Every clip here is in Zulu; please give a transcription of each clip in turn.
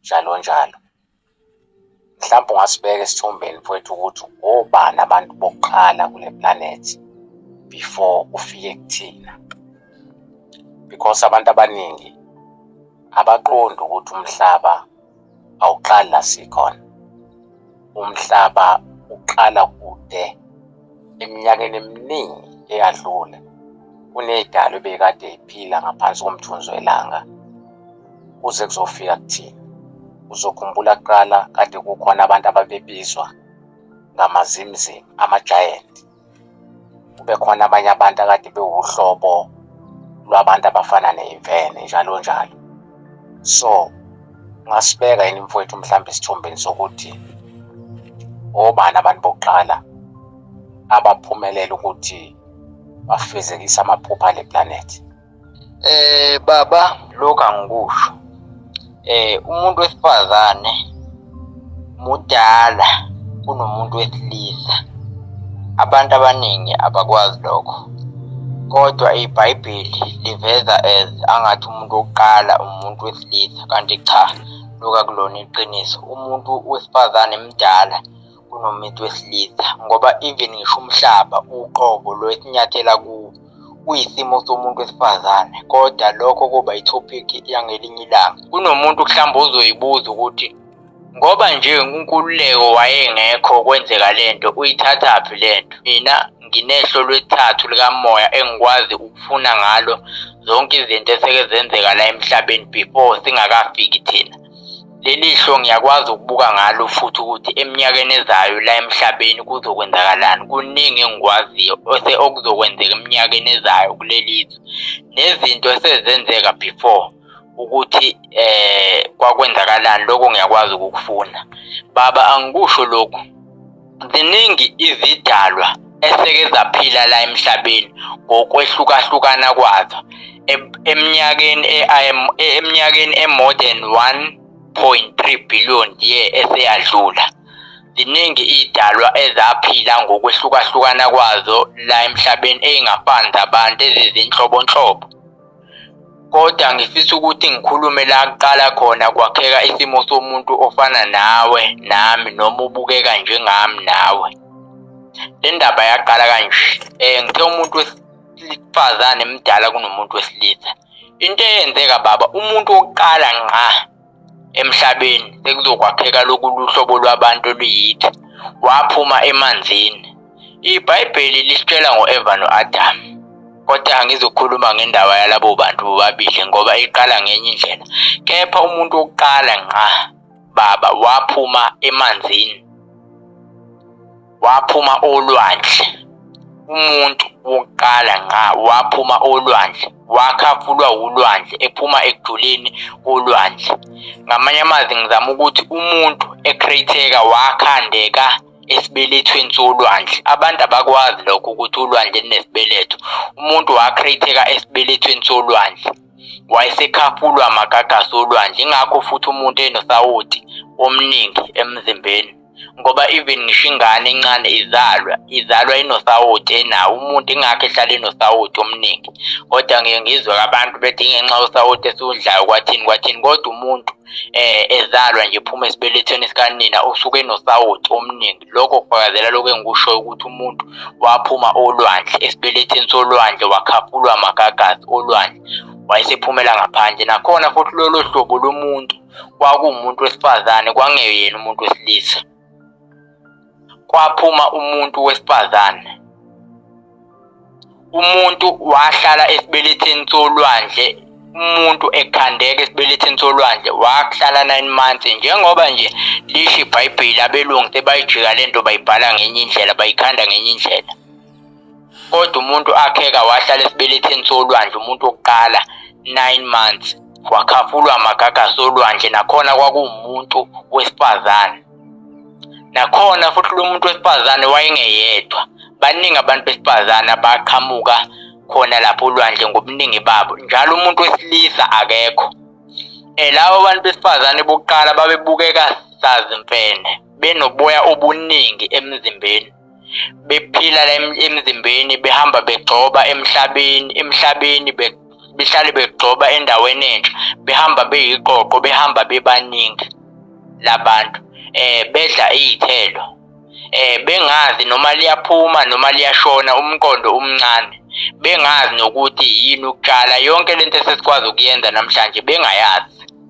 njalo njalo. Mhlawumbe ungasibeka esithombeni mfowethu ukuthi obani abantu bokuqala kule planet before ufike kuthina because abantu abaningi abaqondi ukuthi umhlaba awuqali la sikhona Umhlaba uqala kude eminyakeni eminingi eyadlule kunedalo ebekade iphila ngaphansi komthunzi welanga kuze kuzofika kuthina uzokhumbula kuqala kade kukhona abantu ababebizwa ngamazimzim ama-giant kube khona abanye abantu akade bewuhlobo lwabantu abafana neyimfene njalo njalo so ngasibeka yini mfowethu mhlawumbe isithombeni sokuthi obani abantu bokuqala abaphumelela ukuthi bafezekise amaphupha ale planethi Eh baba lokho angikusho. Eh umuntu wesifazane mudala kunomuntu wesilisa. Abantu abaningi abakwazi lokho. Kodwa iBhayibheli liveza as angathi umuntu wokuqala umuntu wesilisa kanti cha loku akulona iqiniso. Umuntu wesifazane mdala kunomuntu wesilisa ngoba even ngisho umhlaba uqobo lo esinyathela kuwo uyisimo somuntu wesifazane kodwa lokho kuba i-topic yangelinye ilanga kunomuntu mhlawumbe ozoyibuza ukuthi ngoba nje unkululeko wayengekho kwenzeka le nto uyithathaphi le nto mina nginehlo lwethathu likamoya engikwazi ukufuna ngalo zonke izinto eseke zenzeka la emhlabeni before singakafiki thina Leli hlo ngiyakwazi ukubuka ngalo futhi ukuthi eminyakeni ezayo la emhlabeni kuzokwenzakalani. Kuningi engikwaziyo okuzokwenzeka eminyakeni ezayo kuleli zwe. Nezinto esezenzeka before ukuthi kwakwenzakalani, lokho ngiyakwazi ukukufunda. Baba angikusho lokhu. Ziningi izidalwa eseke zaphila la emhlabeni ngokwehlukahlukana kwazo eminyakeni eminyakeni e-more than 1.3 billion year eseyadlula. Ziningi iy'dalwa ezaphila ngokwehlukahlukana kwazo la emhlabeni ey'ngafani zabantu ezizinhlobonhlobo. Kodwa ngifisa ukuthi ngikhulume la kuqala khona kwakheka isimo somuntu ofana nawe nami noma ubukeka njengami nawe. Le ndaba yaqala kanje, ngithe umuntu wesifazane mdala kunomuntu wesilisa. Into eyenzeka baba umuntu wokuqala ngqa. emhlabeni sekuzokwakheka lokulu hlobo lwabantu oluyithi waphuma emanzini. IBhayibheli lisitshela ngo-Eva no-Adamu. Kodwa angizokhuluma ngendaba yalabo bantu bobabili ngoba iqala ngenye indlela. Kepha umuntu wokuqala ngqa baba waphuma emanzini. waphuma olwandle umuntu wokuqala ngqa waphuma olwandle wakhafulwa wulwandle ephuma ekujuleni kolwandle ngamanye amazwi ngizama ukuthi umuntu ecreateka wakhandeka esibelethweni solwandle abantu abakwazi lokho ukuthi ulwandle linesibeletho umuntu wakreatheka esibelethweni solwandle wayesekhafulwa amagagasi olwandle ingakho futhi umuntu enosawoti omningi emzimbeni ngoba even ngisho ingane encane izalwa izalwa inosawoti enawo umuntu ingakho ehlala inosawoti omningi kodwa ngiye ngizwe abantu bethi ingenxa yosawoti esiwudlayo kwathini kwathini kodwa umuntu eh ezalwa nje phuma esibelethweni sikanina usuke enosawoti omningi lokho kufakazela lokho engikusho ukuthi umuntu waphuma olwandle esibelethweni solwandle wakhaphulwa magagasi olwandle wayesephumela ngaphandle nakhona futhi lolo hlobo lomuntu kwakuwumuntu wesifazane kwangeyena umuntu wesilisa kwaphuma umuntu wesifazane umuntu wahlala esibeletheni solwandle umuntu ekhandeka esibeletheni solwandle wakuhlala nine months njengoba nje lisho ibhayibheli abelungu sebayijika le nto bayibhala ngenye indlela bayikhanda ngenye indlela kodwa umuntu akheka wahlala esibeletheni solwandle umuntu wokuqala 9 months wakhafulwa amagagasi olwandle nakhona kwakuwumuntu wesifazane nakhona futhi lo muntu wesifazane wayengeyedwa baningi abantu besifazane abaqhamuka khona lapho olwandle ngobuningi babo njalo umuntu wesilisa akekho um labo bantu besifazane bokuqala babebukeka sazimfene benoboya obuningi emzimbeni bephila la emzimbeni behamba begcoba emhlabeni emhlabeni behlale begcoba endaweni entsha behamba beyiqoqo behamba bebaningi labantu eh bedla izithelo eh bengazi noma liyaphuma noma liyashona umqondo umncane bengazi nokuthi yini ukutshala yonke lento esesikwazi ukuyenza namhlanje bengayazi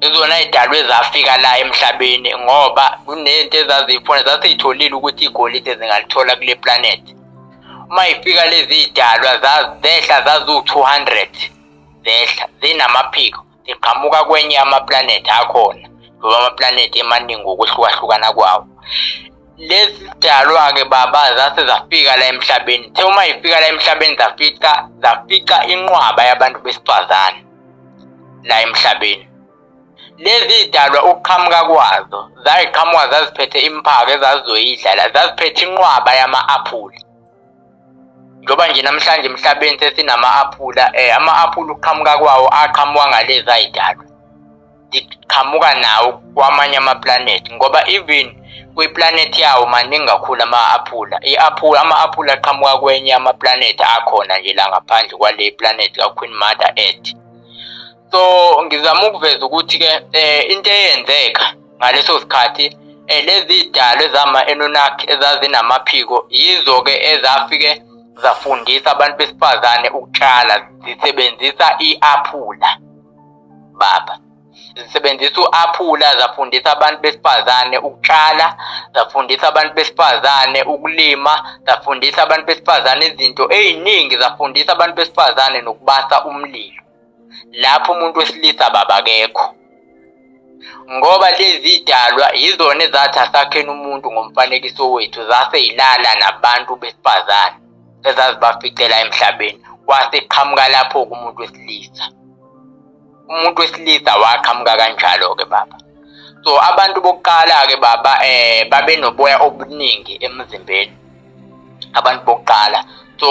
izona zidalwe zafika la emhlabeni ngoba kunezinto ezaziyifuna zaseyitholile ukuthi igolide zingalithola kule planet uma ifika lezi zidalwa zehla zaziwu-200 zehla zinamaphiko ziqhamuka kwenye amaplanethi akhona ngoba amaplanethi emaningi ngokuhlukahlukana kwawo lezi dalwa-ke baba zase zafika la emhlabeni the uma yifika la emhlabeni zafica zafica inqwaba yabantu besifazane la emhlabeni. Lezi zidalwa ukuqhamuka kwazo zayiqhamuka zaziphethe imphako ezazizoyidlala, zaziphethe inqwaba yama-aphula. Njengoba nje namhlanje emhlabeni sesinama-aphula, um ama-aphula ukuqhamuka kwawo aqhamuka ngalezi ayidalwa. ndiqhamuka nawo kwamanye amaplanethi ngoba even kwiplanethi yawo maningi kakhulu ama-aphula i-aphula ama-aphula aqhamuka kwenye amaplanethi akhona nje la ngaphandle kwale planethi kaqueen mother earth so ngizama ukuveza ukuthi-ke um into eyenzeka ngaleso sikhathi um lezi dalo ezama-enonaki ezazinamaphiko yizo-ke ezafike zafundisa abantu besifazane ukutshala zisebenzisa i-aphula baba zisebenzisa u-aphula zafundisa abantu besifazane ukutshala zafundisa abantu besifazane ukulima zafundisa abantu besifazane izinto ey'ningi zafundisa abantu besifazane nokubasa umlilo lapho umuntu wesilisa babakekho ngoba lezi dalwa yizona ezathi asakheni umuntu ngomfanekiso wethu zase yilala nabantu besifazane ezazibaficela emhlabeni wase qhamuka lapho kumuntu wesilisa umuntu wesilisa waqhamuka kanjalo-ke baba so abantu bokuqala-ke baba eh babenoboya obuningi emzimbeni abantu bokuqala so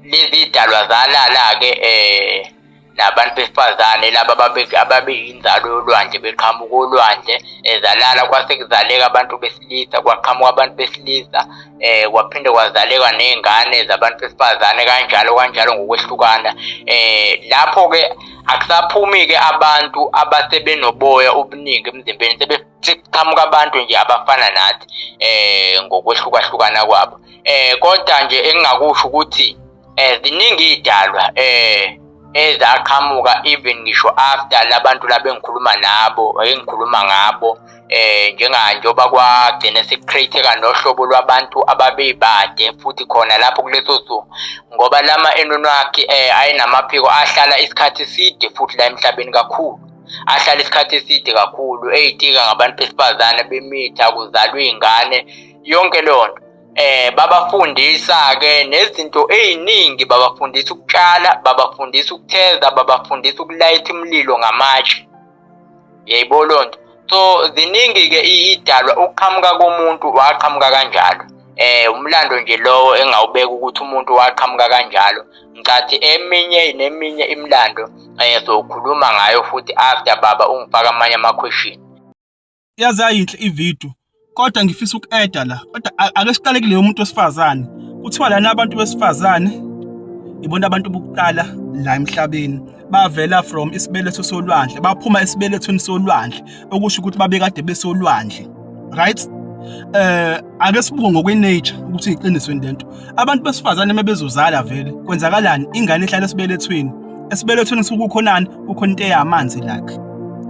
lezi dalwa zalala-ke eh nabantu besifazane laba ababeyinzalo yolwandle beqhamuka olwandle ezalala kwase kuzaleka abantu besilisa kwaqhamuka abantu besilisa eh kwaphinde kwazaleka nezingane zabantu besifazane kanjalo kanjalo ngokwehlukana eh lapho ke akusaphumi ke abantu abasebenoboya obuningi emzimbeni sebeqhamuka abantu nje abafana nathi eh ngokwehlukahlukana kwabo eh kodwa nje engingakusho ukuthi eh ziningi idalwa eh ezaqhamuka even ngisho after labantu labengikhuluma nabo engikhuluma ngabo eh njenga njoba kwagcine sekucreateka nohlobo lwabantu ababebade futhi khona lapho kuleso suku ngoba lama enonwakhe eh ayinamaphiko ahlala isikhathi side futhi la emhlabeni kakhulu ahlala isikhathi eside kakhulu eyitika ngabantu besifazane bemitha kuzalwa iy'ngane yonke leyo nto eh babafundisa ke nezinto eziningi babafundisa ukutshala babafundisa ukutheza babafundisa ukulayitha umlilo ngamatshe yayibona lonto so ziningi ke idalwa ukuqhamuka komuntu waqhamuka kanjalo eh umlando nje lowo engawubeka ukuthi umuntu waqhamuka kanjalo ngicathi eminye neminye imlando eh sokhuluma ngayo futhi after baba ungifaka amanye ama question yaze yayinhle ivideo kodwa ngifisa uku-eda la kodwa ake siqale kuleyo umuntu wesifazane kuthiwa lana abantu besifazane ibona abantu bokuqala la emhlabeni bavela from isibeletho solwandle baphuma esibelethweni solwandle okusho ukuthi babekade besolwandle right eh ake sibuke ngokwenature ukuthi iqinisweni lento abantu besifazane mebezozala vele kwenzakalani ingane ihlala esibelethweni esibelethweni sukukhonani kukhona into eyamanzi lakhe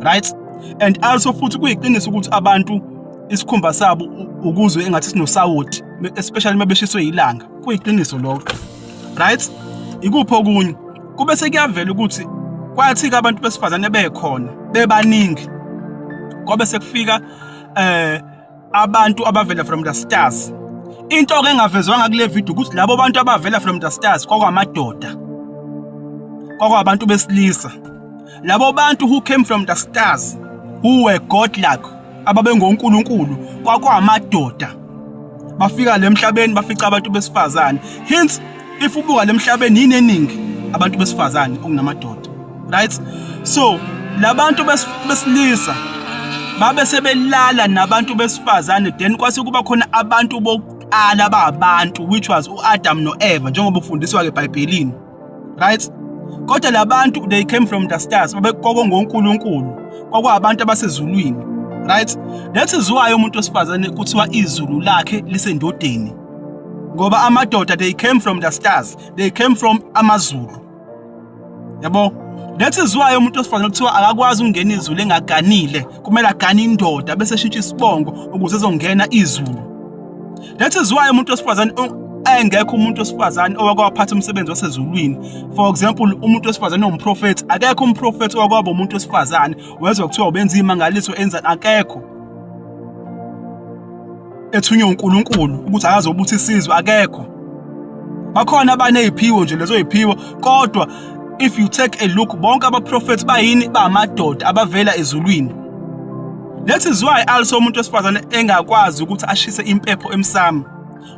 right and also futhi kuyiqiniso ukuthi abantu isikhumba sabo ukuzwe engathi sinosawoti especially uma beshiswe yilanga kuyiqiniso lokho right ikuphi okunye kube sekuyavela ukuthi kwathi-ke abantu besifazane bekhona bebaningi kwabe sekufika um abantu abavela from the stars into ke engavezwanga kule video ukuthi labo bantu abavela from the stars kwakwamadoda kwakwabantu besilisa labo bantu who came from the stars who were godlike ababengonkulunkulu kwakwamadoda bafika le mhlabeni bafica abantu besifazane hence if ubuka lemhlabeni yini eningi abantu besifazane kunamadoda right so labantu besilisa babe sebelala nabantu besifazane then kwase kuba khona abantu bokuqala ababantu which was uAdam noEva njengoba ufundiswa ke eBhayibhelini right kodwa labantu they came from the stars babekoko ngoNkulunkulu kwakwabantu abasezulwini right that is why umuntu wesifazane kuthiwa izulu lakhe lisendodeni ngoba amadoda they came from the stars they came from amazulu yabo that is why umuntu osifazane kuthiwa akakwazi ukungena izulu engaganile kumele agane indoda bese eshintsha isibongo ukuze ezongena izulu that is why umuntu osifazane engekho umuntu osifazane owakwaphatha umsebenzi wasezulwini for example umuntu osifazane ongumprofethi akekho umprofethi owakwaba umuntu osifazane wezwa kuthiwa ubenza imangaliso enza akekho ethunywe uNkulunkulu ukuthi akaze ukuthi isizwe akekho bakhona abaneziphiwo nje lezo ziphiwo kodwa if you take a look bonke abaprofethi bayini bamadoda abavela ezulwini That is why also umuntu wesifazane engakwazi ukuthi ashise impepho emsamo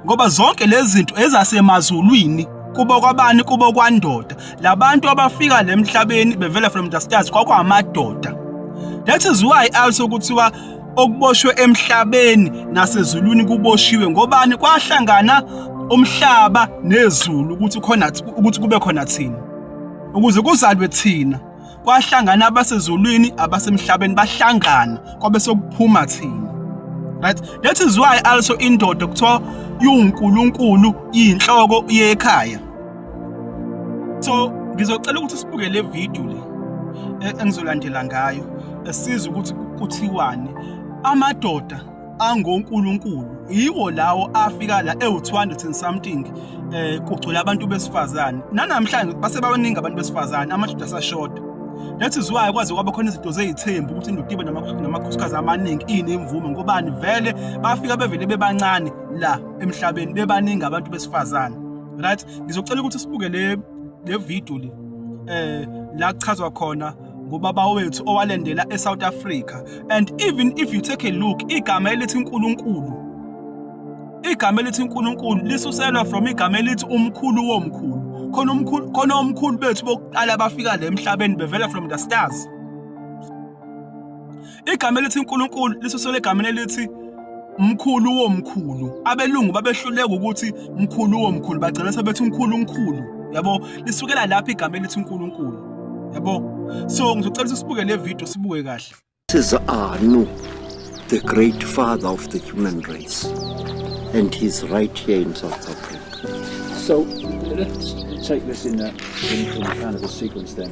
ngoba zonke lezi zinto ezasemazulwini kubo kwabani kubo kwandoda labantu abafika lemhlabeni bevela from the stars kwakwamadoda that is why also kuthiwa okuboshwe emhlabeni nasezulwini kuboshiwe ngobani kwahlangana umhlaba nezulu ukuthi khona ukuthi kube khona thina ukuze kuzalwe thina kwahlangana abasezulwini abasemhlabeni bahlangana kwabe sokuphuma thina right that is why also indoda kuthiwa iwuNkulunkulu iyinhloko yekhaya so ngizocela ukuthi sibuke le video le e, engizolandela ngayo esiza ukuthi kuthiwani amadoda angonkulunkulu yiwo lawo afika la ewu-200 and something eh kugcwele abantu besifazane nanamhlanje basebabaningi abantu besifazane amadoda asashoda that is why kwaze kwaba khona izinto zeyithembu ukuthi indoda ibe namakhosikazi amaningi iyinemvume ngobani vele bafika bevele bebancane la emhlabeni bebaningi abantu besifazane right ngizocela ukuthi sibuke le le video le eh la kuchazwa khona ngobaba wethu owalendela eSouth Africa and even if you take a look igama elithi uNkulunkulu igama elithi uNkulunkulu lisuselwa from igama elithi umkhulu womkhulu khona umkhulu khona omkhulu bethu bokuqala bafika le emhlabeni bevela from the stars Igama elithi uNkulunkulu lisuselwe egameni elithi mkhulu womkhulu. Abelungu babehluleka ukuthi mkhulu womkhulu, bagcina sebethi uNkulunkulu. Yabo? Lisukela lapho igama elithi uNkulunkulu. Yabo? So ngizocela ukuthi sibuke le video sibuke kahle. This is Anu, the great father of the human race. And he's right here in South Africa. So let's take this in, a, in, in kind of a sequence then.